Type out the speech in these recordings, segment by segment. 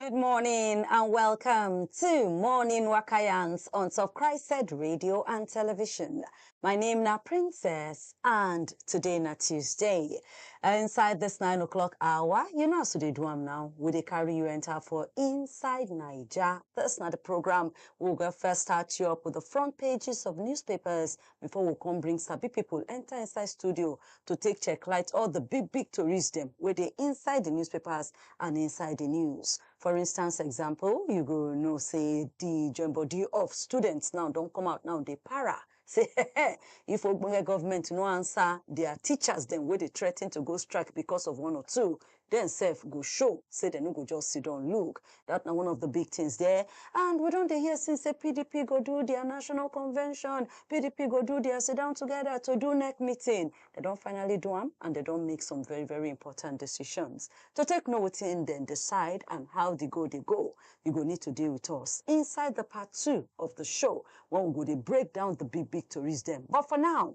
Good morning and welcome to Morning Wakayans on Top Christ Said Radio and Television. My name na Princess and today na Tuesday. Uh, inside this 9 o'clock hour, you know as we dey do am now, we dey carry you enter for Inside Naija. This na the program we go first start you up with the front pages of newspapers before we come bring sabi people enter inside studio to take check light all the big big tories them where they inside the newspapers and inside the news. For instance, example, you go know say the joint body of students now don't come out now they para. Say if Ogbonge government no answer their teachers them where they threaten to go strike because of one or two, Dem sef go show say dem no go just siddon look, dat na one of di big tins there. And we don dey hear since say pdp go do dia national convention, pdp go do dia siddown together to do nec meeting. Dem don finally do am and dem don make some very very important decisions. To take know wetin dem decide and how di go dey go, you go need to dey with us inside di part two of di show wen we go dey break down di big big toris dem. But for now,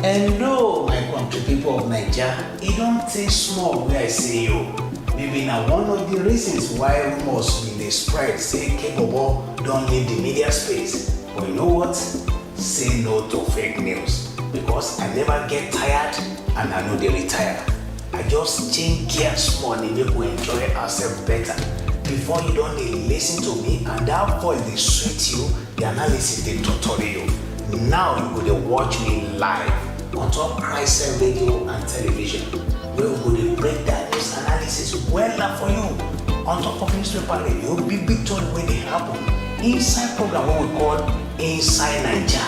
Hello, my country people of Naija. E don take small wey I see you. Maybe na one of the reasons why rumors bin dey spread say Kebobo don leave the media space. But you know what? Say no to fake news because I never get tired and I no dey retire. I just change gear small dey make we enjoy ourselves better. Before you don dey listen to me and that voice dey sweet you, the analysis dey totori you. Now you go dey watch me live on top Christian radio and television wey we go dey break down news analysis wella for you on top of newspaper radio big big tori wey dey happen inside program wey we call Inside Naija.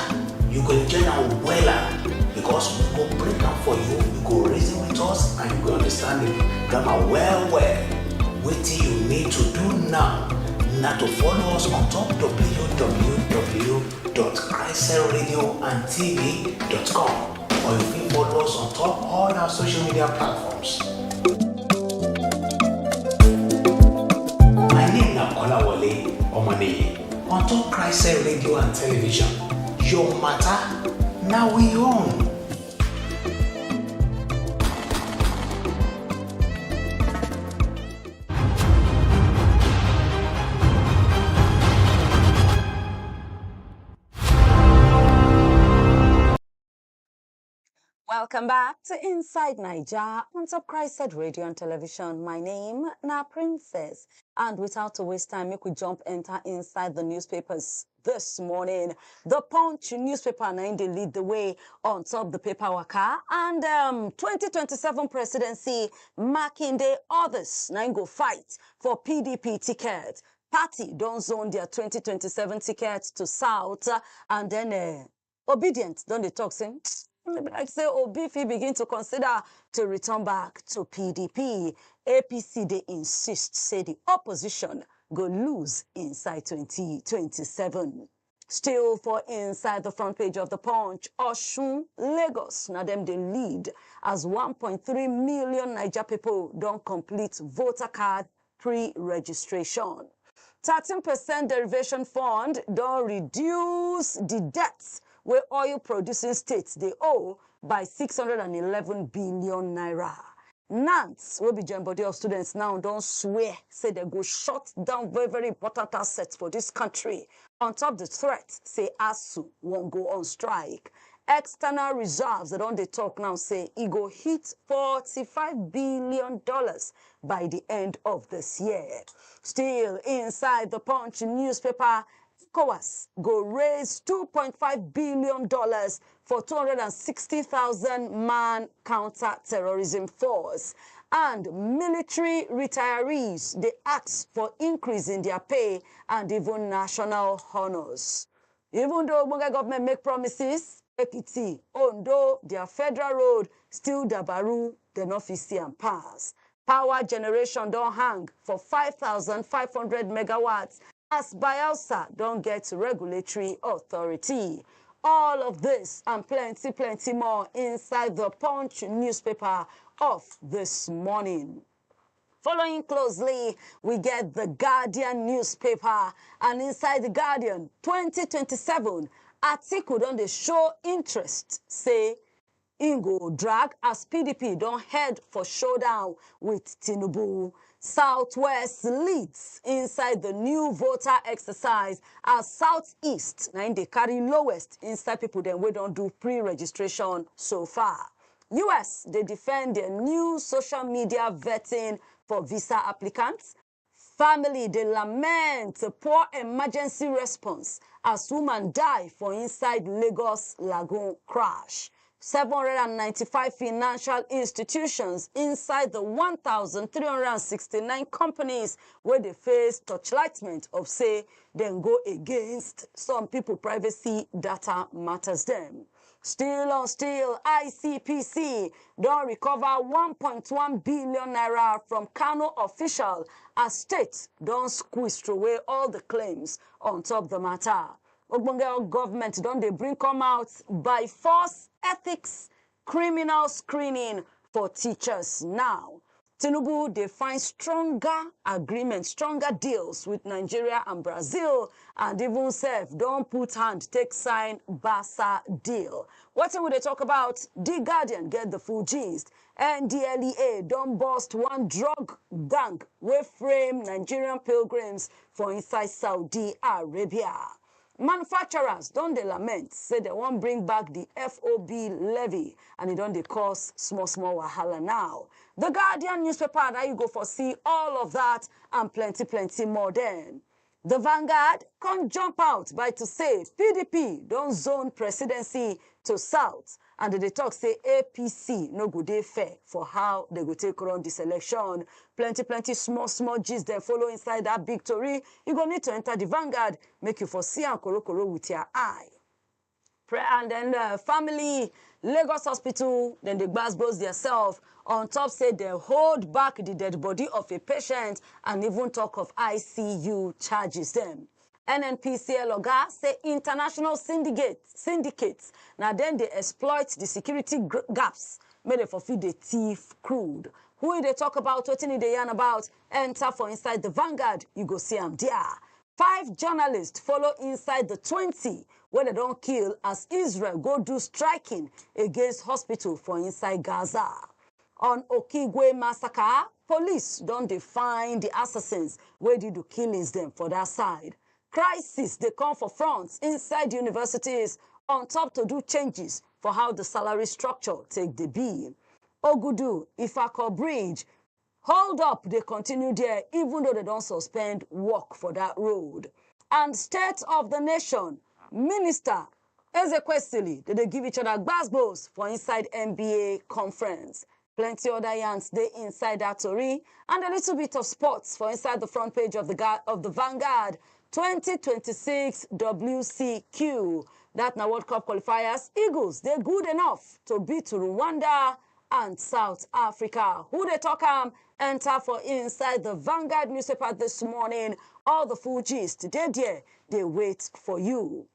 You go enjoy am wella because we go break am for you, you go reason with us and you go understand the grammar well well. Wetin you need to do now na to follow us on top www www.christcellradioandtv.com or you fit follow us on top all our social media platforms. My name na Kolawole Omoniyi on top Christ Cell Radio and Television. Your matter na we own. Welcome back to Inside Naija on Top Christ Radio and Television. My name na Princess, and without to waste time, make we jump enter inside the newspapers. this morning. The Punch newspaper now they lead the way on top the paper waka and um, 2027 presidency marking day others now go fight for PDP ticket. Party don't zone their 2027 ticket to South uh, and then uh, Obidient don dey talk say e be like say Obi fit begin to consider to return back to PDP. APC dey insist say di opposition go lose inside 2027. Still for inside the front page of the Punch, Osun, Lagos na dem dey lead as 1.3 million Naija pipo don complete voter card pre-registration. Thirteen percent derivation fund don reduce di debts wey oil producing states dey owe by six hundred and eleven billion naira. NANS wey be join body of students now don swear say dem go shut down very very important assets for dis country on top di threat say ASUU wan go on strike. External reserves dem don dey talk now say e go hit forty five billion dollars by di end of dis year. Still inside di Punch newspaper, ECOWAS go raise $2.5 billion for 260,000 man counter-terrorism force and military retirees dey ask for increase in dia pay and even national honours. Even though ogbonge government make promises, Ekiti, Ondo, their federal road still dabaru, dem no fit see am pass. Power generation don hang for five thousand five hundred megawatts as Bayelsa don get regulatory authority. All of this and plenty plenty more inside the Punch newspaper of this morning. Following closely, we get the Guardian newspaper and inside the Guardian 2027, Atiku don dey show interest say im go drag as PDP don head for showdown with Tinubu. Southwest leads inside the new voter exercise as Southeast na im dey carry lowest inside people dem wey don do pre-registration so far. us dey defend dia new social media vetting for visa applicants family dey lament poor emergency response as woman die for inside lagos lagoon crash 795 financial institutions inside the 1,369 companies wey dey face torchlightment of say dem go against some people privacy data matters dem. Still on still, ICPC don recover 1.1 billion naira from Kano official as state don squeeze throway all the claims on top the matter. Ogbonge government don dey bring come out by force ethics criminal screening for teachers now. Tinubu dey find stronger agreement, stronger deals with Nigeria and Brazil and even sef don put hand take sign Barca deal. Wetin we dey talk about? The Guardian get the full gist. NDLEA don burst one drug gang wey frame Nigerian pilgrims for inside Saudi Arabia. Manufacturers don dey lament say dem wan bring back di FOB levy and e don dey cause small small wahala now. The Guardian newspaper na you go for see all of that and plenty plenty more den. The Vanguard come jump out by to say PDP don zone presidency to south And dem dey talk say APC no go dey fair for how dem go take run di selection. Plenty plenty small small gist dem follow inside dat big tori, you go need to enter di Vanguard make you for see am korokoro with ya eye. Pre and den family Lagos hospital dem dey gbas gbos dia self on top say dem hold back di dead body of a patient and even talk of ICU charges dem. nnpcl oga say international syndicate syndicate na dem dey exploit di security gaps make dem for fit dey thief crude who e dey talk about wetin e dey yarn about enter for inside the vanguard you go see am there five journalists follow inside the twenty wey dem don kill as israel go do striking against hospital for inside gaza On Okigwe massacre, police don dey find di assassins wey do di killings dem for dat side. Crisis dey come for front inside universities on top to do changes for how di salary structure take dey be. Ogudu, Ifako bridge, hold up dey continue there even though dem don suspend work for dat road. And state of di nation, minister Ezekwesili dey dey give each other gbas gbos for inside NBA conference. Plenty other yarns dey inside that tori and a little bit of sports for inside the front page of the, Ga- of the Vanguard 2026 WCQ. That na World Cup qualifiers. Eagles dey good enough to beat Rwanda and South Africa. Who dey talk am? Enter for inside the Vanguard newspaper this morning. All the full gist dey there, dey wait for you.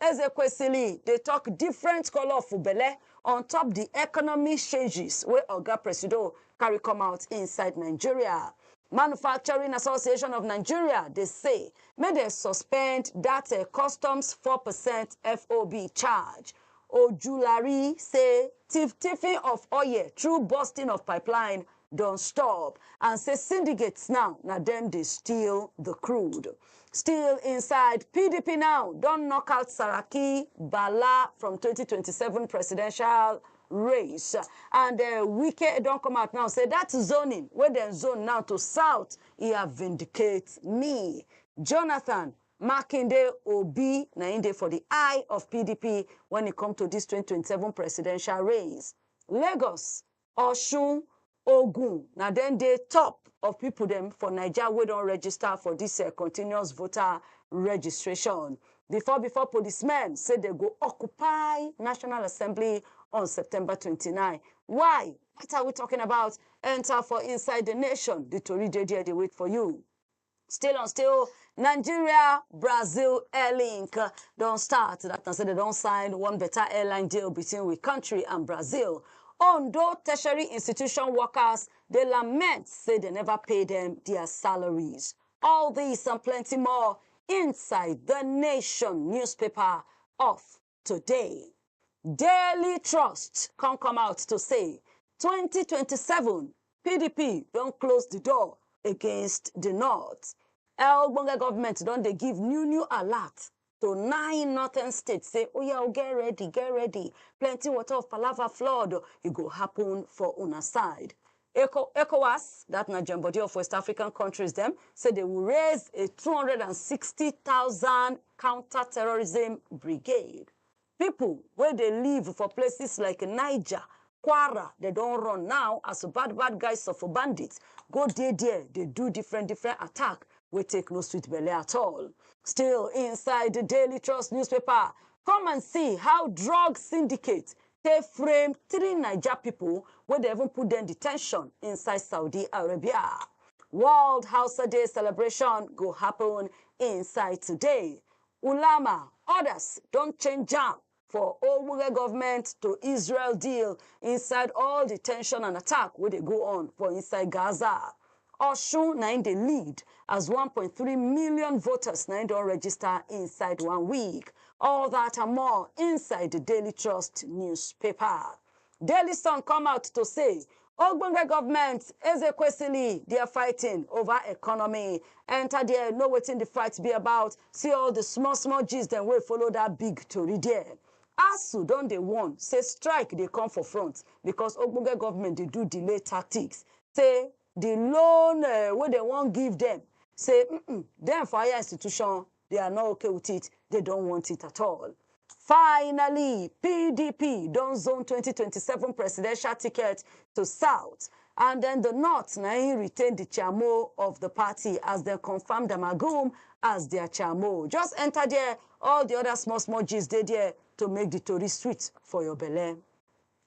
Ezekwesili dey tok different colour for belle on top di economic changes wey Oga Presido carry come out inside Nigeria. Manufacturing Association of Nigeria dey say make dem suspend dat customs four percent FOB charge. Ojulari say tiff-tiffing of oil through busting of pipeline don stop and say syndicates now na dem dey steal the crude. Still inside, PDP now don knock out Saraki, Bala from 2027 presidential race and uh, Wike don come out now say that zoning wey dem zone now to south e have vindicate me. Jonathan Makinde Obi na im dey for the eye of PDP when e come to this 2027 presidential race. Lagos Osun, Ogun na dem dey top of pipo dem for Naija wey don register for dis continuous voter registration before before policemen say dem go occupy National Assembly on September twenty nine. Why? What are we talking about? Enter for inside the nation, the tori dey there dey wait for you. Still on still, Nigeria Brazil Airlink uh, don start. That na say they don sign one better airline deal between we country and Brazil. Ondo tertiary institution workers dey lament say they never pay them their salaries. All this and plenty more inside the Nation newspaper of today. Daily Trust come come out to say 2027 PDP don close the door against the North. El Bonga government don dey give new new alert to nine northern states say oya o get ready get ready plenty water of palava flood e go happen for una side. Eco, ECOWAS, dat na join body of West African countries dem, say dey will raise a 260,000 counter-terrorism brigade. Pipo wey dey live for places like Niger, Kwara, dem don run now as bad-bad guys of bandits go dey there dey do different-different attack wey take no sweet belle at all. Still inside Daily Trust newspaper, come and see how drug syndicate take frame three Naija people wey dey even put dem detention inside Saudi Arabia. World Hausa Day celebration go happen inside today. Ulama, others don change jam for Ogbonge government to Israel deal inside all the tension and attack wey dey go on for inside Gaza. Osun na im dey lead as one point three million voters na im don register inside one week. All that and more inside the Daily Trust newspaper. Daily Sun come out to say ogbonge government Ezekwesili they are fighting over economy. Enter there, know wetin the fight be about. See all the small small gist dem wey follow that big tori there. ASUU don dey warn say strike dey come for front because ogbonge government dey do delay tactics. say the loan uh, wey dem wan give them say mm dem for higher institution they are not okay with it they don't want it at all finally pdp don zone 2027 presidential ticket to south and then the north na im retain the chamo of the party as dem confam damagum as their chamo just enter there all the other small small gist dey there to make the tori sweet for your belle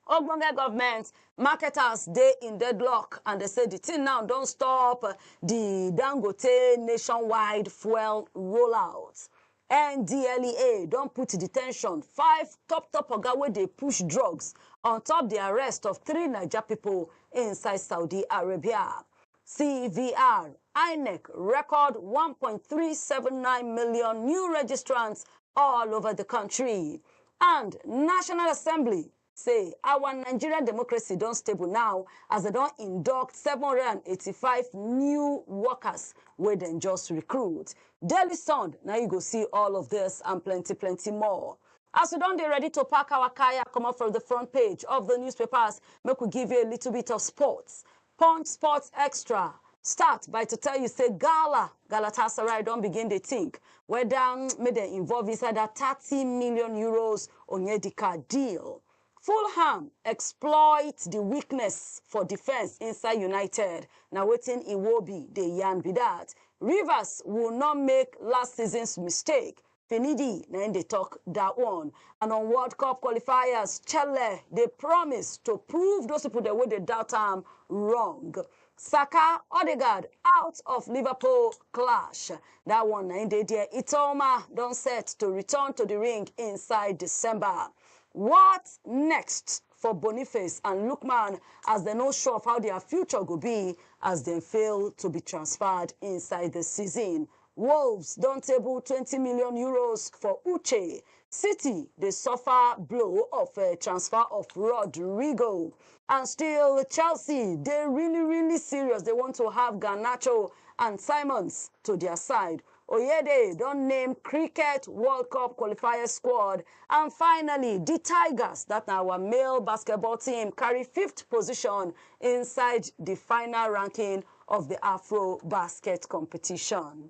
Ogbonge government marketers dey in deadlock and dey say di tin now don stop di Dangote nationwide fuel rollout. NDLEA don put detention five top top oga wey dey push drugs on top di arrest of three Naija pipo inside Saudi Arabia. CVR, INEC record 1.379 million new registrants all over the country. And National Assembly say our Nigerian democracy don stable now as they don induct 785 new workers wey dem just recruit. Daily Sun, now you go see all of this and plenty, plenty more. As we don dey ready to pack our kaya comot from the front page of the newspapers, make we give you a little bit of sports. Punch Sports Extra start by to tell you say Gala Galatasaray don begin dey think whether make dem involve inside that thirty million euros Onyedika deal. Fulham exploit the weakness for defence inside United, na wetin Iwobi dey yarn be that. Rivers will not make last season's mistake, Finidi na im dey talk that one. And on World Cup qualifiers, Chelle dey promise to prove those people dem wey dey doubt am wrong. Saka, Odegaard out of Liverpool clash. That one na im dey there. Itoma don set to return to the ring inside December. What next for Boniface and Lookman as dem no sure of how their future go be as dem fail to be transferred inside the season? Wolves don table twenty million euros for Uche, City dey suffer blow of transfer of Rodrygo and still Chelsea dey really really serious dey want to have Garnacho and Simons to dia side. Oyede don name Cricket World Cup qualifiers squad and finally di Tigers, dat na our male basketball team carry fifth position inside di final ranking of the Afro Basket competition.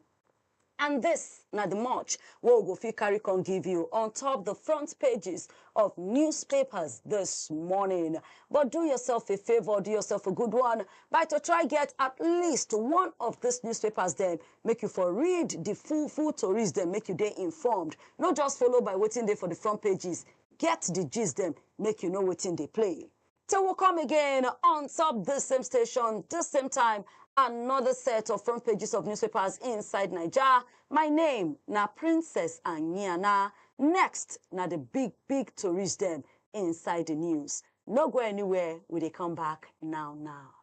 And this na the much wey we go fit carry come give you on top the front pages of newspapers this morning. But do yourself a favor, do yourself a good one by to try get at least one of these newspapers dem make you for read the full full tories dem make you dey informed. No just follow by wetin dey for the front pages, get the gist dem make you know wetin dey play. Till we come again on top this same station, this same time, another set of front pages of newspapers inside Nigeria. My name na Princess Anyana. Next na the big big tourist dem inside the news. No go anywhere, we dey come back now now.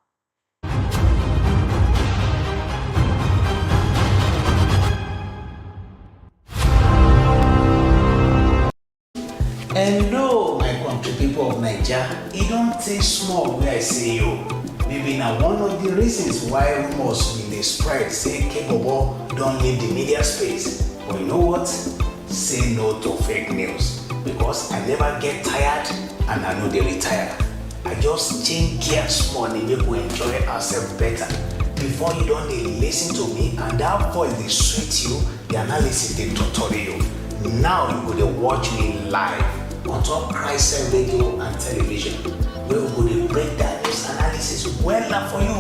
Hello, my country people of Naija. E don tey small wey I see you. Maybe na one of the reasons why rumors bin dey spread say Kebobo don leave the media space. But you know what? Say no to fake news because I never get tired and I no dey retire. I just change gear small dey make we enjoy ourselves better. Before you don dey listen to me and that voice dey sweet you, the analysis dey totori you. Now you go dey watch me live on top Christian radio and television wey we go dey break down news analysis wella for you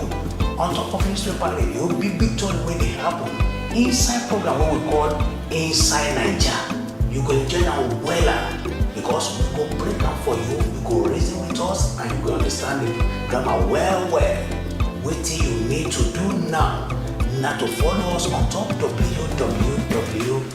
on top of newspaper radio big big tori wey dey happen inside program wey we call Inside Naija. You go enjoy am wella because we go break am for you, you go reason with us and you go understand the grammar well well. Wetin you need to do now na to follow us on top www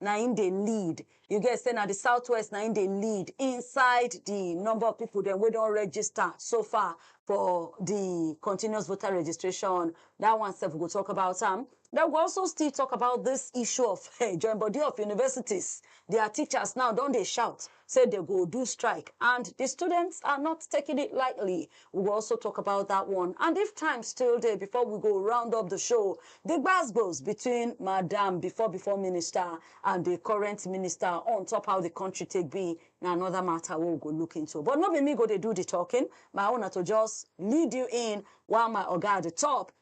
na im dey lead. You get sey na the southwest na im dey lead inside the number of people dem wey don register so far for the continuous voter registration. That one sef we go talk about am. Then we go also still talk about this issue of eh, join body of universities. Their teachers now don dey shout say dey go do strike and di students are not taking it lightly we go also talk about dat one and if time still dey before we go round up di show di gbasgbos between madam before before minister and di current minister on top how di country take be na anoda matter wey we go look into but no be me go dey do di talking my own na to just lead you in while my oga at di top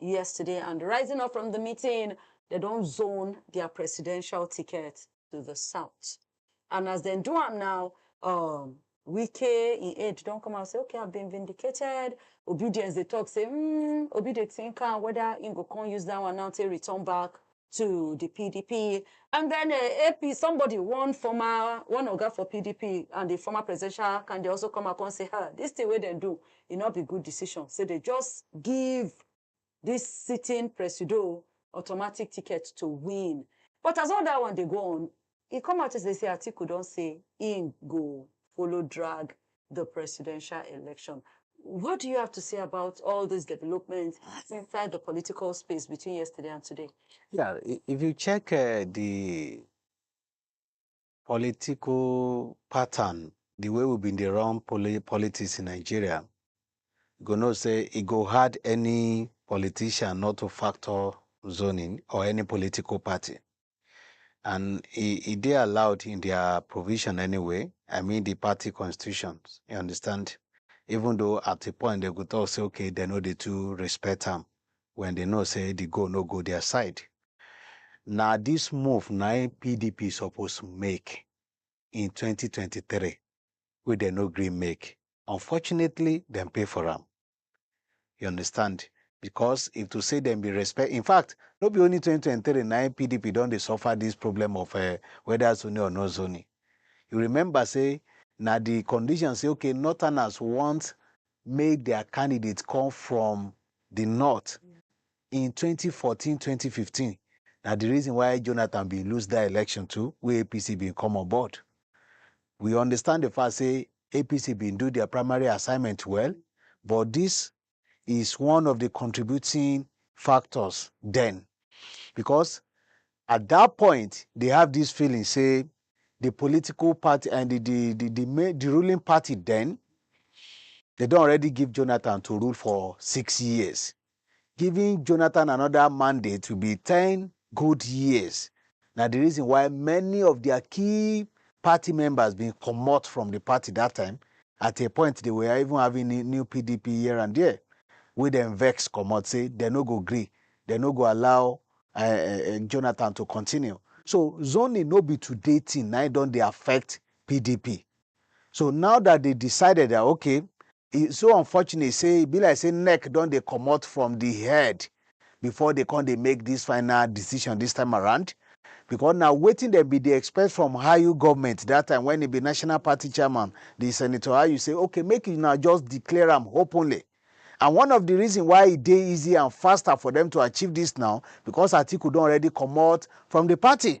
yesterday and rising up from di meeting, dem don zone dia presidential ticket to di south and as dem do am now, um Wike im aide don come out say okay I've been vindicated, Obidience dey talk say um Obi dey think am weda im go come use dat one now take return back to di pdp. And den AP somebody one former one oga for pdp and di former presidential candidate also come out come say ha dis tin wey dem do e no be good decision say dem just give dis sitting presido automatic ticket to win. But as all dat one dey go on, E come out yesterday say Atiku don say im go follow drag the presidential election. What do you have to say about all these developments inside the political space between yesterday and today? Yeah, if you check uh, the political pattern, the way we've been the wrong poli- politics in Nigeria, you go know say it go hard any politician not to factor zoning or any political party. and e e dey allowed in dia provision anyway, I mean di party constitutions, you understand, even though at a point dem go tok say okay dem no dey too respect am wen dem know say di goal no go dia side. Na dis move na im pdp suppose make in twenty twenty three wey dem no gree make, unfortunately dem pay for am. You understand? Because if to say them be respect, in fact, no be only 2023 nine PDP don't they suffer this problem of uh, whether zoning or no zoning. You remember say now the condition say okay, northerners want make their candidates come from the north in 2014, 2015. Now the reason why Jonathan be lose that election too, where APC be come on board. We understand the fact say APC bin do dia primary assignment well but dis is one of di contributing factors den becos at dat point dey have dis feeling say di political party and di di di di main di ruling party den dey don already give Jonathan to rule for six years Giving Jonathan anoda mandate will be ten good years na di reason why many of dia key party members bin comot from di party dat time, at a point dey were even having new new pdp here and there wey dem vex comot say dem no go gree, dem no go allow um Jonathan to continue. So zoning no be today tin na im don dey affect pdp, so now dat dey decided dat okay e so unfortunate say e be like say neck don dey comot from the head before they come dey make this final decision this time around because na wetin dem be dey expect from Ayu government that time when e be national party chairman the senator Ayu say okay make you now just declare am openly and one of the reason why e dey easy and faster for them to achieve this now because Atiku don already comot from the party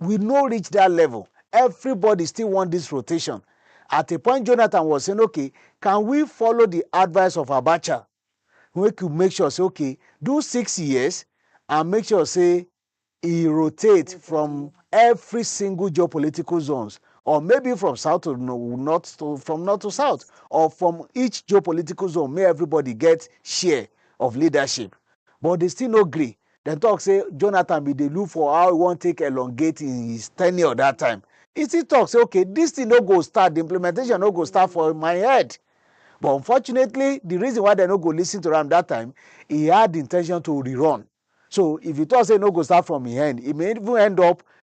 We no reach dat level, everybody still want dis rotation. At a point Jonathan was saying okay, can we follow di advice of Abacha make we make sure say okay, do six years and make sure say e rotate from every single geopolitical zones or maybe from south to north to from north to south or from each geopolitical zone make everybody get share of leadership but dey still no gree dem talk say Jonathan bin dey look for how he wan take elongate his tenure that time. He still talk say okay this thing no go start, the implementation no go start for my head. But unfortunately, the reason why dem no go listen to am that time, he had the intention to rerun. So if you talk say e no go start from im end, e may even end up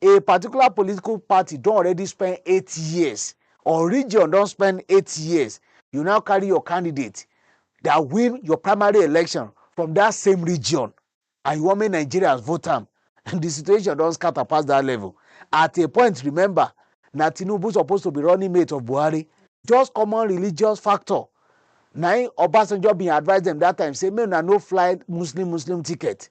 a particular political party don already spend eight years or region don spend eight years you now carry your candidate that win your primary election from that same region and you want make nigerians vote am the situation don scatter past that level at a point remember na tinubu supposed to be running mate of buhari just common religious factor na im obasanjo bin advise them that time say make una no fly muslim muslim ticket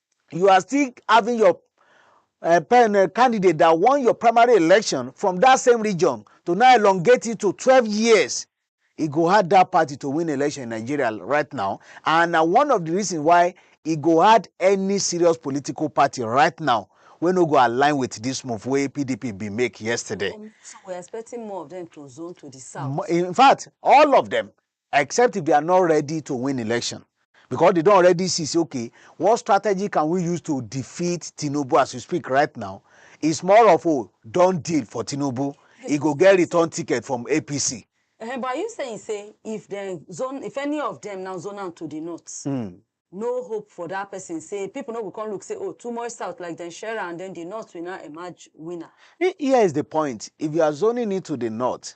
you are still having your uh, pen, uh, candidate that won your primary election from that same region to now elongate it to 12 years e go hard that party to win election in nigeria right now and na one of the reasons why e go hard any serious political party right now wey no go align with this move wey pdp bin make yesterday. Um, so we're expecting more of them to zone to the south. in fact all of them except if they are not ready to win election because they don already see say okay what strategy can we use to defeat tinubu as we speak right now it's more of oh don deal for tinubu he go get return ticket from apc Uh, but are you saying say if dem zone if any of them now zone am to the north mm. no hope for that person say people no go come look say oh too much south like dem share am then the north will now emerge winner He- here is the point if you are zoning it to the north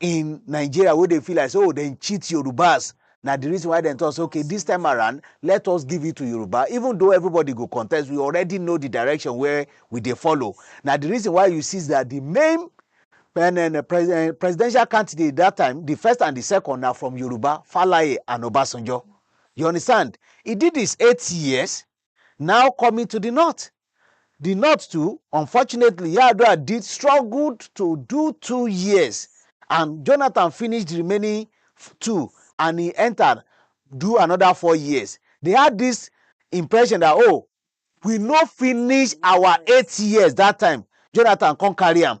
in Nigeria wey dey feel like say oh dem cheat Yorubas na the reason why dem talk say okay this time around let us give it to Yoruba even though everybody go contest we already know the direction where we dey follow na the reason why you see that the main and then uh, pres uh, presidential candidate that time, the first and the second are from Yoruba, Falaye and Obasanjo. You understand? He did this eight years, Now coming to di north. Di north too, unfortunately Yar'Adua did struggled to do two years and Jonathan finish di remaining two and he entered do another four years. They had dis impression dat oh we no finish our eight years dat time, Jonathan come carry am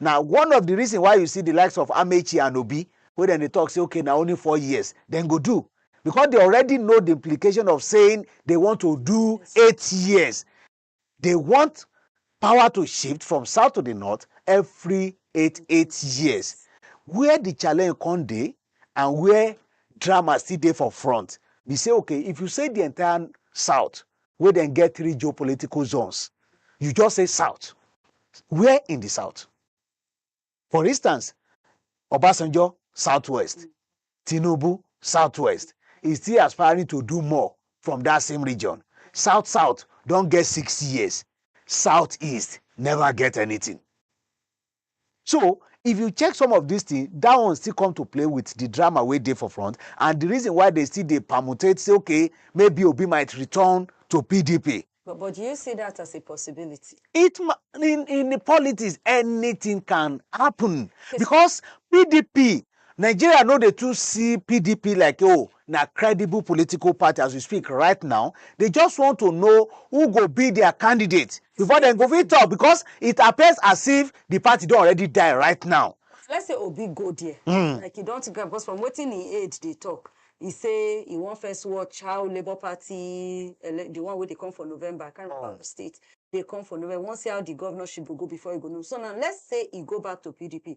Na one of di reason why you see di likes of Amaechi and Obi wey dem dey talk say okay na only four years dem go do because they already know the implication of saying they want to do eight years. They want power to shift from south to the north every eight eight years. Where the challenge come dey and where drama still dey for front be say okay if you say the entire south wey dem get three geopolitical zones, you just say south, where in di south? For instance, Obasanjo, southwest, Tinubu, southwest, e still aspiring to do more from dat same region. South south don get six years, south east never get anything. So, if you check some of dis tin, dat one still come to play wit di drama wey dey for front and di reason why dem still dey permutate say ok, maybe Obi might return to pdp. But but do you see dat as a possibility? It ma in in politics anytin can happun Okay, so becos pdp Nigeria no dey too see pdp like oh na credible political party as we speak right now, they just want to know who go be their candidate before dem go fit talk because it appears as if the party don already die right now. Let's say Obi go there, mm. like he don take am because from wetin he aid dey talk, he say he wan first watch how Labour Party, the one wey dey come for November, I can't remember oh. the state, dey come for November, we wan see how the governorship go go before he go know. So now let's say he go back to PDP,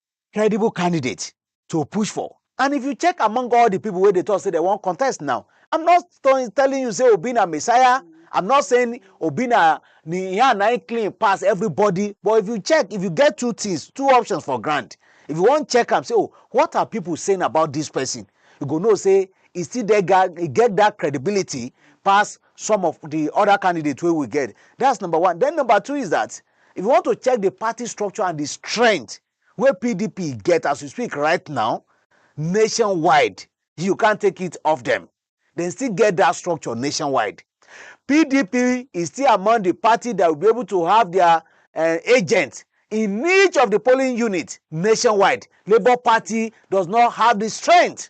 credible candidate to push for. And if you check among all the people where they talk say they won't contest now, I'm not telling you say Obi na Messiah. I'm not saying Obi na Nihan na clean pass everybody. But if you check, if you get two things, two options for grant, if you want check am say oh what are people saying about this person you go know say e still dey e get that credibility pass some of the other candidates wey we get that's number one then number two is that If you want to check di party structure and di strength wey pdp get as we speak right now nationwide, you can't take it off dem. Dem still get dat structure nationwide. PDP is still among di party dat will be able to have dia eh, agent in each of di polling unit nationwide. Labour Party does not have di strength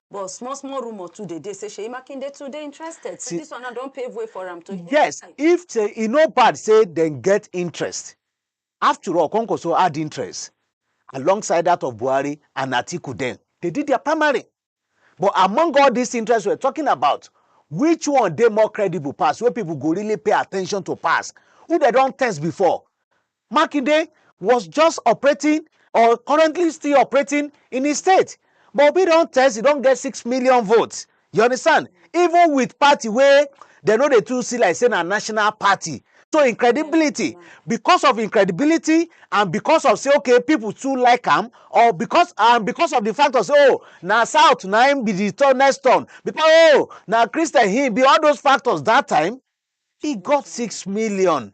But small small rumour too dey dey say Seyi Makinde too dey interested. See, this one now don pave way for am to Yes, if say e no bad say dem get interest. After all, Kwankwaso add interest alongside that of Buhari and Atiku then. They did their primary. But among all these interests we're talking about, which one dey more credible pass, wey people go really pay attention to pass? Who they don test before? Makinde was just operating or currently still operating in his state but Obi don test he don get six million votes you understand even with party wey dem no dey too see like say na national party so im credibility because of im credibility and because of say okay people too like am or because and because of the fact of say oh na south na im be the turn next turn because oh na christian he be all those factors that time he got six million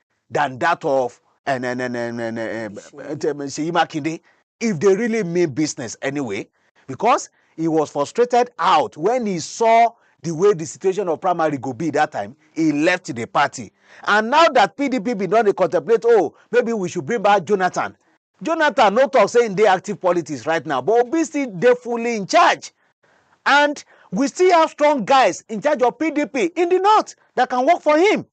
than that of uh, uh, uh, Seyi Makinde if they really mean business anyway, because he was frustrated out when he saw the way the situation of primary go be that time he left the party and now that pdp bin don dey contemplate oh maybe we should bring back jonathan jonathan no talk say im dey active politics right now but obi still dey fully in charge and we still have strong guys in charge of pdp in the north that can work for him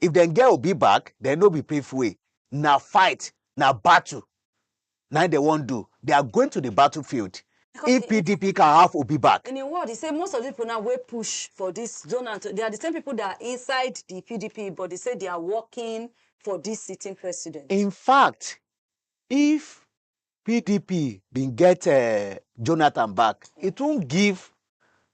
If dem get Obi back, then no be play fuey. Na fight, na battle na im dem wan do. They are going to the battle field Because if PDP can have Obi back. In im word, e say most of di pipo now wey push for dis zona, they are di same pipo that are inside di PDP but dey say they are working for dis sitting president. In fact, if pdp bin get eh, jonathan back e tun give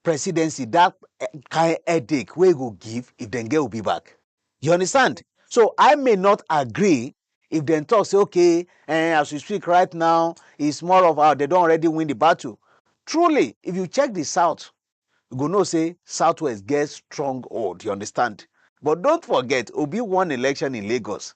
presidency dat eh, kain headache wey e go give if dem get obi back you understand so i may not agree if dem talk say okay eh, as we speak right now is more of how dem don already win the battle truly if you check the south you go know say southwest get strong hold you understand but don't forget obi won election in lagos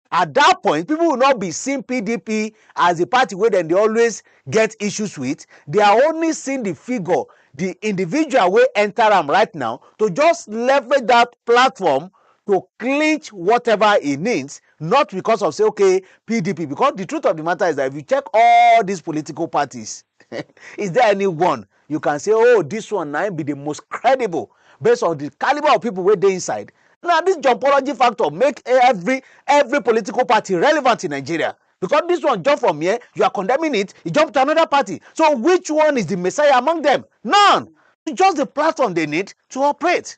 At dat point, pipo will not be seeing pdp as di party wey dem dey always get issues wit, dey are only seeing di figure, di individual wey enta am right now to just leverage dat platform to clinch whatever e needs, not becos of say okay pdp, becos di truth of di mata is dat if you check all dis political parties, is there any one you can say oh this one na be the most credible based on the caliber of people wey dey inside na this jumpology factor make every every political party relevant in nigeria because this one jump from here you are condemning it e jump to another party so which one is the messiah among them none just the platform they need to operate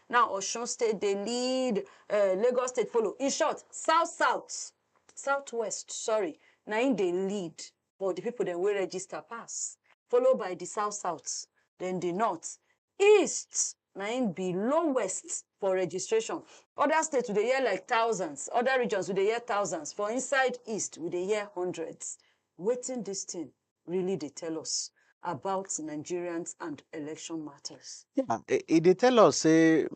Now Osun state dey lead, um Lagos state follow. In short, South South, South West, sorry, na im dey lead for di pipo dem wey register pass, follow by di South South, den di North. East na im be lowest for registration. Oda state we dey hear like thousands, oda regions we dey hear thousands, for inside East we dey hear hundreds. Wetin dis tin really dey tell us about Nigerians and election matters? Yeah, e, e dey tell us say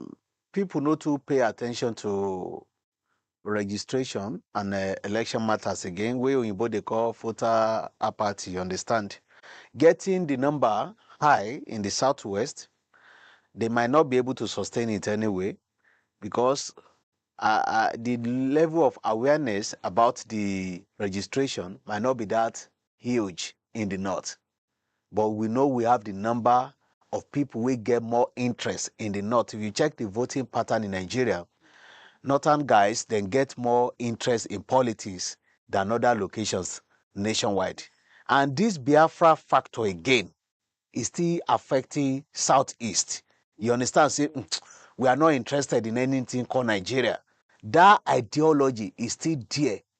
people no too pay attention to registration and uh, election matters again wey oyinbo dey call voter apathy you understand getting the number high in the southwest they might not be able to sustain it anyway because uh, uh, the level of awareness about the registration might not be that huge in di north but we know we have di number of pipo wey get more interest in di north if you check di voting pattern in nigeria northern guys dem get more interest in politics dan oda locations nationwide and dis biafra factor again e still affecting south east you understand say mm, we are not interested in anything called nigeria dat ideology is still there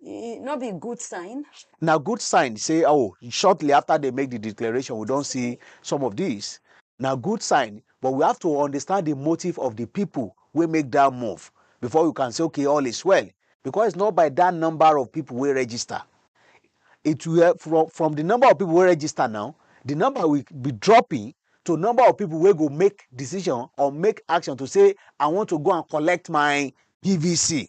e no be good sign? Na good sign say oh shortly after they make the declaration we don see some of these na good sign but we have to understand the motive of the people wey make that move before we can say okay all is well because it's not by that number of people wey register it will eh, from from the number of people wey register now the number will be dropping to number of people wey go make decision or make action to say i want to go and collect my pvc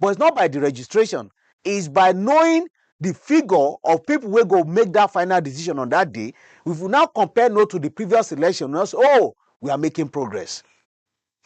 but it's not by the registration is by knowing the figure of people wey go make that final decision on that day if you now compare no to the previous election now say oh we are making progress.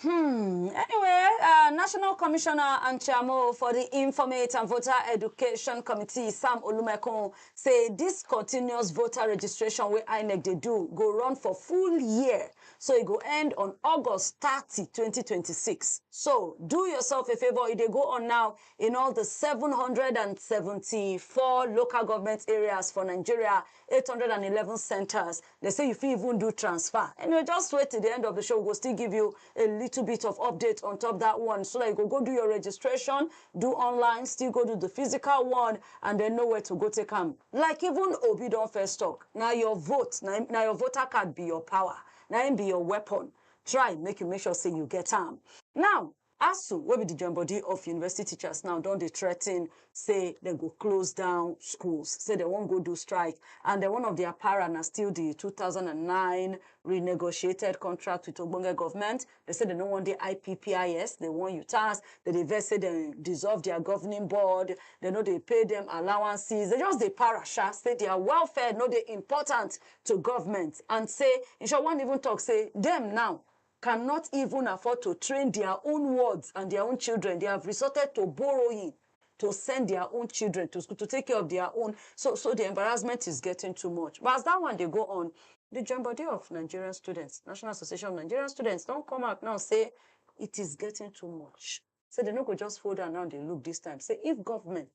Hmm. Anyway, uh, National Commissioner and Chairman for the Informate and Voter Education Committee, Sam Olumekun, say this continuous voter registration wey INEC dey do go run for full year so e go end on august thirty, twenty twenty six so do yourself a favour e dey go on now in all di seven hundred and seventy four local government areas for nigeria eight hundred and eleven centres dey say you fit even do transfer anyway just wait till di end of di show we go still give you a little bit of update on top dat one so dat you go go do your registration do online, still go do the physical one, and then know where to go take am. Like even Obi don first talk, na your vote, na, na your voter card be your power, na im be your weapon. Try make you make sure say you get am. Now, ASUU, wey be the join body of university teachers now, don dey threaten say dem go close down schools, say dem wan go do strike, and then one of their para na still the 2009 renegotiated contract with ogbonge government, Dem say dem no wan dey IPPIS, dem wan UTAS, dem dey vex say dem dissolve their governing board, dem no dey pay dem allowances, dem just dey para sha, say their welfare no dey important to government and say, in short, one even talk say dem now cannot even afford to train their own wards and their own children, they have resorted to borrowing. to send their own children to school to take care of their own so so the embarrassment is getting too much but as that one dey go on the join body of Nigerian students national association of Nigerian students don come out now say it is getting too much say dem no go just hold am now dey look this time say if government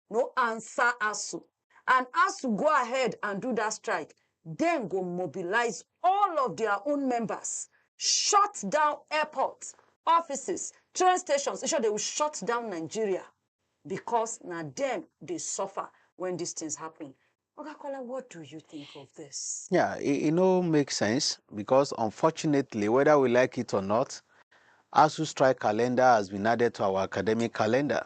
no answer ASUU and as to go ahead and do dat strike, dem go mobilise all of dia own members, shut down airports, offices, train stations, in short, dey will shut down Nigeria because na dem dey suffer wen dis tins happen. Oga Kola, what do you think of dis? Yeah, e e no make sense because unfortunately, whether we like it or not, ASUU strike calendar has been added to our academic calendar.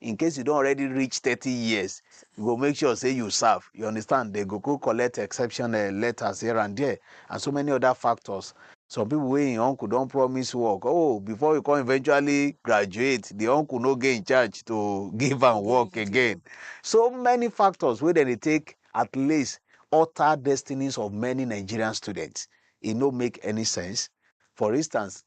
in case you don already reach thirty years you go make sure say you serve you understand they go go collect exception uh, letters here and there and so many other factors some people wey im uncle don promise work oh before you come eventually graduate the uncle no get in charge to give am work again so many factors wey dem dey take at least alter destinies of many nigerian students e no make any sense for instance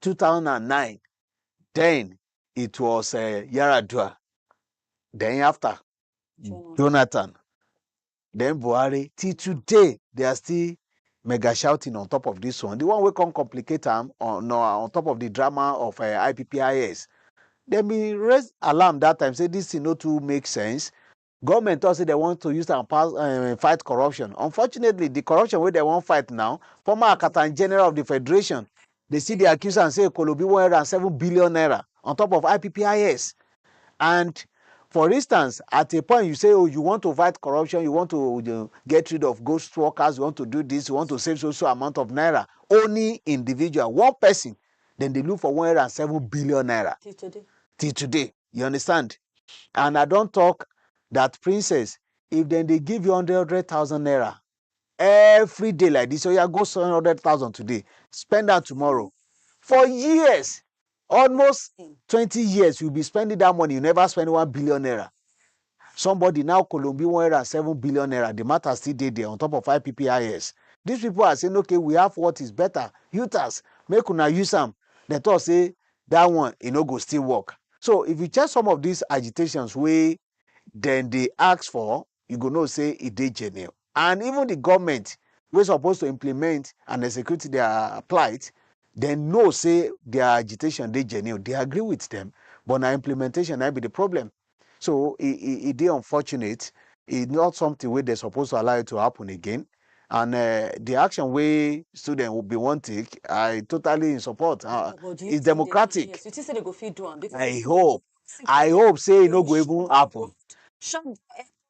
two thousand and nine then it was uh, Yaradua then after Jonathan. Jonathan then Buhari till today they are still mega shouting on top of this one the one wey come complicate am on no, on top of the drama of uh, IPPIS dem bin raise alarm that time say this thing no too make sense Government talk say they want to use am pass um, fight corruption. Unfortunately, the corruption wey they wan fight now, former Akatan General of the Federation, they see the accuse and say Kolobi 107 billion naira on top of IPPIS. And for instance, at a point you say, oh, you want to fight corruption, you want to you know, get rid of ghost workers, you want to do this, you want to save so so amount of naira. Only individual, one person, then they look for 107 billion naira. Till today. Till today. You understand? And I don talk that princess, if dem dey give you hundred hundred thousand naira every day like this, oya go spend hundred thousand today, spend am tomorrow. For years, almost twenty years, you be spending that money, you never spend one billion naira. Somebody now kolombi one hundred and seven billion naira, the matter still dey there ontop of IPPIS. These people are saying okay we have what is better, Utas, make una use am, dem talk say that one e no go still work. So if you check some of these agitations wey dem dey ask for, you go know say e dey genuine and even the government wey suppose to implement and execute their plight, dem know say their agitation dey genuine, they agree with them but na implementation na im be the problem. So e e e dey unfortunate, e not something wey dem suppose to allow it to happen again and uh, the action wey student will be wan take i totally in support uh, it's democratic yes, you think say they go fit do am i hope i hope say e no go even happen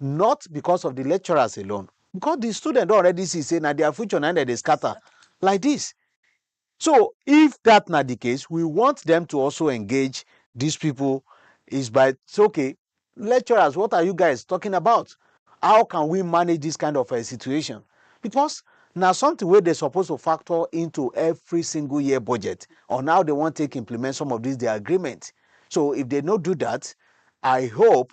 not because of di lecturers alone, because di students don already see say na dia future na im dem dey scatter like dis, so if dat na di case we want dem to also engage dis pipo is by say ok lecturers what are you guys talking about how can we manage dis kind of um situation because na something wey dem suppose to factor into every single year budget on how dem wan take implement some of dis dia agreement so if dem no do dat I hope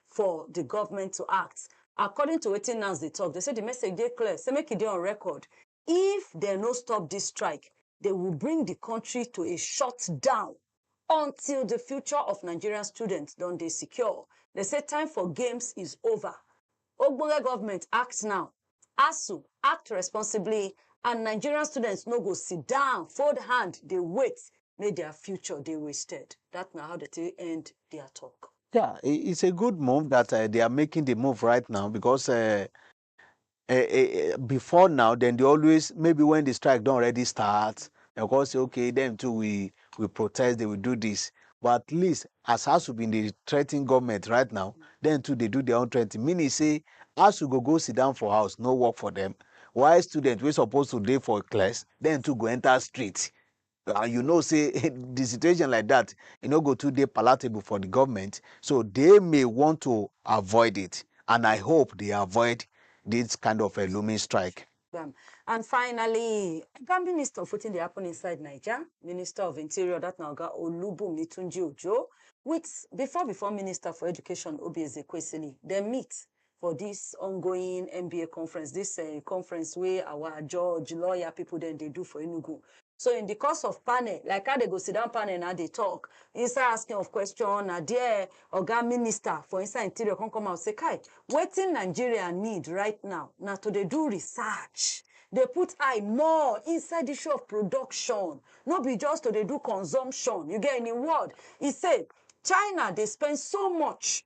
for di government to act according to wetin NANS dey talk, dem say di message dey clear say make e dey on record if dem no stop dis strike dey will bring di country to a shut down until di future of Nigerian students don dey secure, dem say time for games is over ogbonge government act now ASUU, act responsibly and Nigerian students no go sit down, fold hand dey wait make their future dey wasted. That na how they take end their talk. Yeah, it's a good move that uh, they are making the move right now because uh, uh, uh, before now, then they always maybe when the strike don't already start, of course, okay, them too we We protest, dey we do dis, but at least as asuu bin dey threaten goment right now, dem too dey do dia own threatening, meaning say asuu go go sidon for house no work for dem, while students wey suppose to dey for class dem too go enta street and you know say di situation like dat e no go too dey palatable for di goment, so dey may want to avoid it and I hope dey avoid dis kind of a looming strike. program. And finally, Oga Minister of wetin dey happen inside Naija, Minister of Interior, that na Oga Olubunmi Tunji Ojo, with before before Minister for Education, Obi Ezekwesili, dem meet for this ongoing NBA conference, this uh, conference wey our judge, lawyer people dem dey do for Enugu. So in di course of panel, like how dem go sit down panel na dey tok, inside asking of question, na there oga minister for inside interior come come out say kai, wetin Nigeria need right now na to dey do research, dey put eye more inside di issue of production, no be just to dey do consumption, you get. In im word, e say China dey spend so much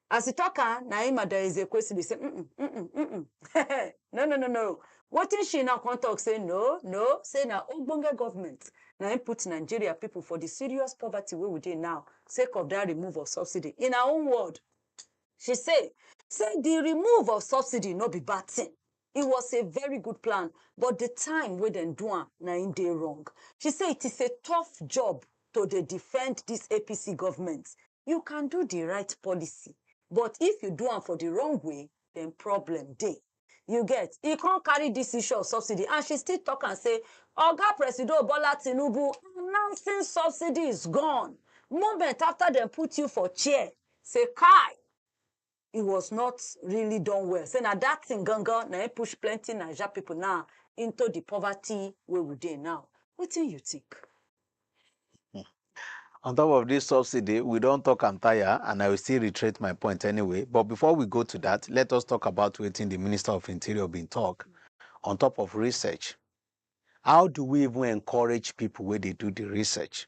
As e tok am, na im Madam Ezekwesili say, Uhn, uhn, uhn, uhn, no, no, no, no. Wetin she now come tok say, No, no, say na ogbonge government na im put Nigeria pipu for di serious poverty wey we dey now sake of dat remove of subsidy. In her own word, she say say di remove of subsidy no be bad tin, it was a very good plan, but di time wey dem do am na im dey wrong. She say it is a tough job to dey defend dis APC government you can do the right policy but if you do am for the wrong way then problem dey you get e come carry this issue of subsidy and she still talk am say oga presido bola tinubu announcing subsidy is gone moment after dem put you for chair say kai he was not really done well say na that thing gangan na him push plenty naija people now into the poverty wey we dey now wetin you think. On top of this subsidy, we don't talk am tire, and I will still reiterate my point anyway. But before we go to that, let us talk about waiting the Minister of Interior been talk on top of research. How do we even encourage people where they do the research?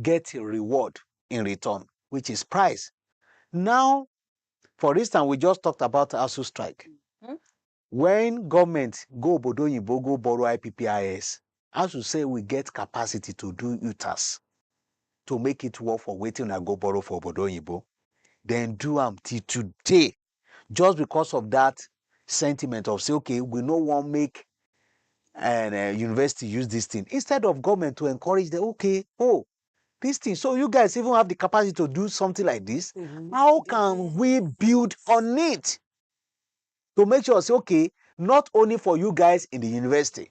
get a reward in return, which is price. Now, for instance, we just talked about ASU strike. Mm-hmm. When government go Obodo Yibo, go borrow IPPIS, as you say, we get capacity to do UTAS to make it work for waiting and go borrow for Obodo Yibo. Then do them till today. just because of that sentiment of say okay we no wan make and uh, university use this thing instead of government to encourage them okay oh this thing so you guys even have the capacity to do something like this mm -hmm. how can we build on it to make sure say okay not only for you guys in the university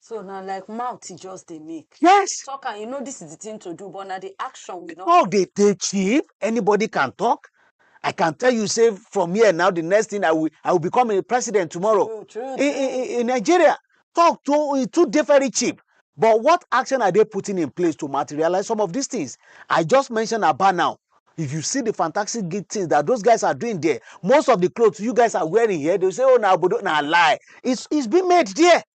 So na like mouth e just dey make. Yes. Talk am, you know this is the thing to do, but na the action we no. Talk dey dey cheap. Anybody can talk. I can tell you, say from here now, the next thing I will, I will become a president tomorrow. True, true, In, true. in, in Nigeria, talk too, it too dey very cheap. But what action are they putting in place to materialize some of these things? I just mentioned Aba now. If you see the fantastic good things that those guys are doing there, most of the clothes you guys are wearing here, they say, oh, na obodo, na lie. It's, it's been made there.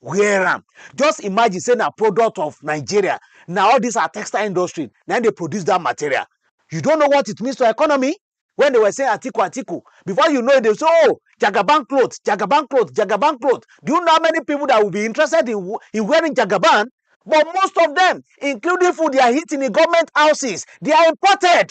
wear am just imagine say na product of nigeria na all this our textile industry na im dey produce that material you don't know what it means to economy when they were saying atiku atiku before you know it they say oh jagaban cloth jagaban cloth jagaban cloth do you know how many people that will be interested in, wo- in wearing jagaban but most of them including food they are eating in government houses they are imported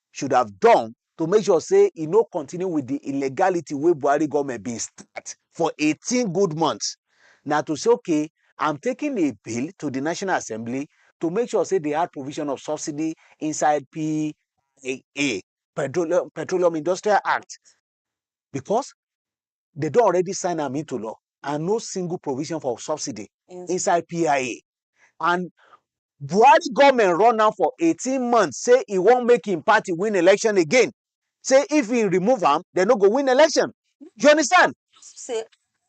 should have done to make sure say e no continue with the illegality wey Buhari government bin start for 18 good months na to say okay I'm taking a bill to the National Assembly to make sure say they add provision of subsidy inside PIA, Petroleum, Petroleum Industrial Act, because they don already sign am into law and no single provision for subsidy yes. inside PIA. And Buhari government run am for 18 months, say he won't make him party win election again. Say if he remove am, they no go win election. Do you understand? Say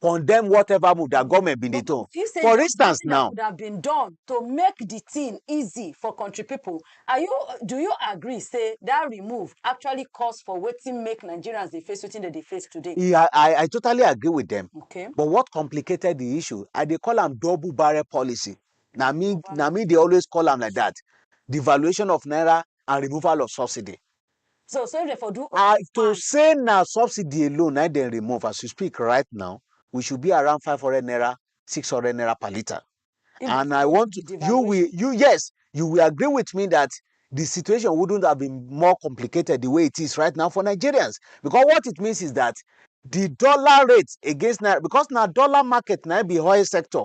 condemn whatever move that government been dey do. For instance now. Could have been done to make the thing easy for country people. Are you do you agree say that remove actually cause for wetin make Nigerians dey face wetin dem dey face today? Yeah, I, I totally agree with them. Okay. But what complicated the issue? I dey call am double barrel policy. Now me, now me they always call am like that. Devaluation of naira and removal of subsidy. So so if dem for do all I, to fine. say na subsidy alone na im dem remove as we speak right now, we should be around five hundred naira, six hundred naira per litre. If And before I want the to, you will, devaluation. you yes, you will agree with me that the situation wouldn't have been more complicated the way it is right now for Nigerians. Because what it means is that the dollar rate against naira, because na dollar market na im be oil sector,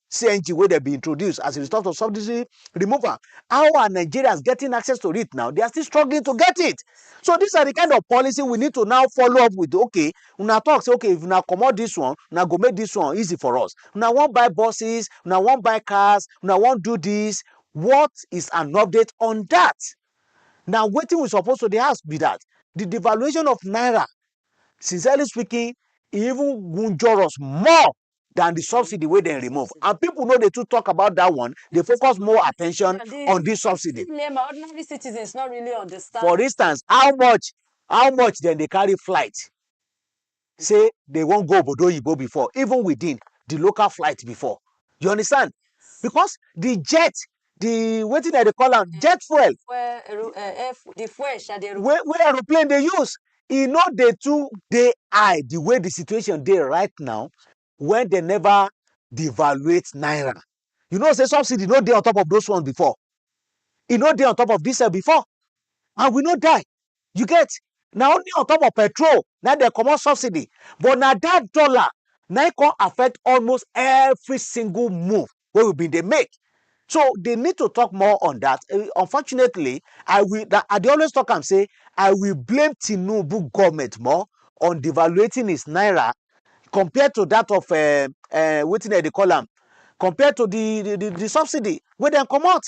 CNG where they be introduced as a result of subsidy removal. How are Nigerians getting access to it now? They are still struggling to get it. So these are the kind of policy we need to now follow up with. Okay, una talk say okay if una comot this one, una go make this one easy for us. Una wan buy buses, una wan buy cars, una wan do this. What is an update on that? Now waiting we suppose to dey ask be that the devaluation of naira, sincerely speaking, e even wunjure us more than the subsidy wey dem remove and people no dey too talk about that one dey focus more attention on this subsidy. Lema, ordinary citizens not really understand. for instance how much how much dem dey carry flight say they wan go obodo oyibo before even within the local flight before you understand because the jet the wetin dem dey call am jet fuel Fuel, ero- eh, eh, fu- the fuel sha dey wey wey aeroplane dey use e no dey too dey high the way the situation dey right now when dem never devaluate naira you know say subsidy no dey on top of those ones before e no dey on top of this one before and we no die You get? Na only on top of petrol na im dem comot subsidy, but na dat dollar na im come affect almost every single move wey we bin dey make. So, they need to talk more on dat. Um Unfortunately, I will dat I dey always talk am sey I will blame Tinubu government more on devaluating his naira compared to dat of um um wetin dem dey call am, compared to de de de subsidy wey dem comot.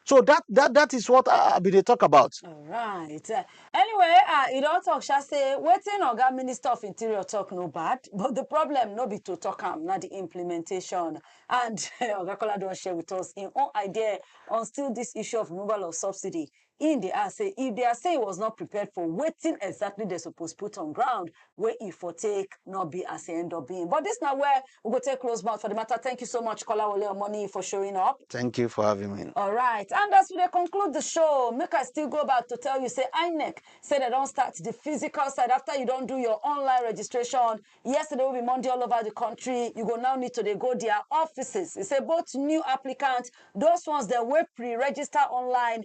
So that that that is what I, I be dey talk about. Alright. Uh, anyway, uh, e don talk sha say wetin Oga Minister of Interior talk no bad, but the problem no be to talk am, na the implementation. And Oga Kola don share with us im own idea on still this issue of removal of subsidy. Im dey ask say if they are saying he was not prepared for wetin exactly they suppose put on ground, wey e for take no be as e end up being. But this na where we go take close mouth for the matter. Thank you so much, Kolawole Omoni, for showing up. Thank you for having me. All right, and as we dey conclude the show, make I still go back to tell you, say INEC say they don start the physical side after you don do your online registration. Yesterday will be Monday all over the country. You go now need to dey go their offices. They say both new applicants, those ones that were pre-register online,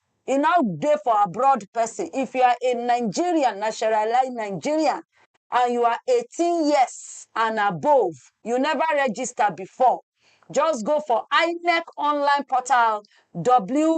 e now dey for abroad person if you are a nigerian naturalized nigerian and you are eighteen years and above you never register before just go for inec online portal www.cvr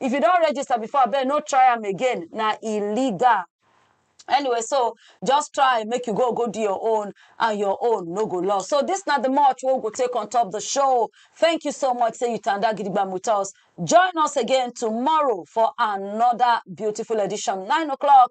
if you don register before abeg no try am again na illegal anyway so just try make you go go do your own and your own no go lost so this na the much wey we go take on top the show thank you so much say you tanda gidigbam with us join us again tomorrow for another beautiful edition nine o'clock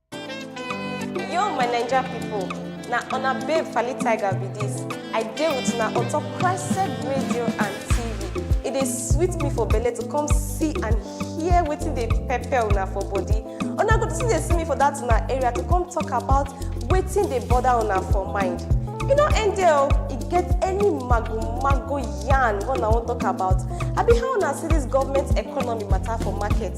Yo, my Ninja people. Now, on a babe Fally Tiger be this. I deal with now on top Crested Radio and TV. It is sweet me for Bele to come see and hear waiting they pepper una for body. On a good see they see me for that una area to come talk about waiting they bother una for mind. You know, and there it gets any mago mago yarn when I want talk about. I be how una see this government economy matter for market.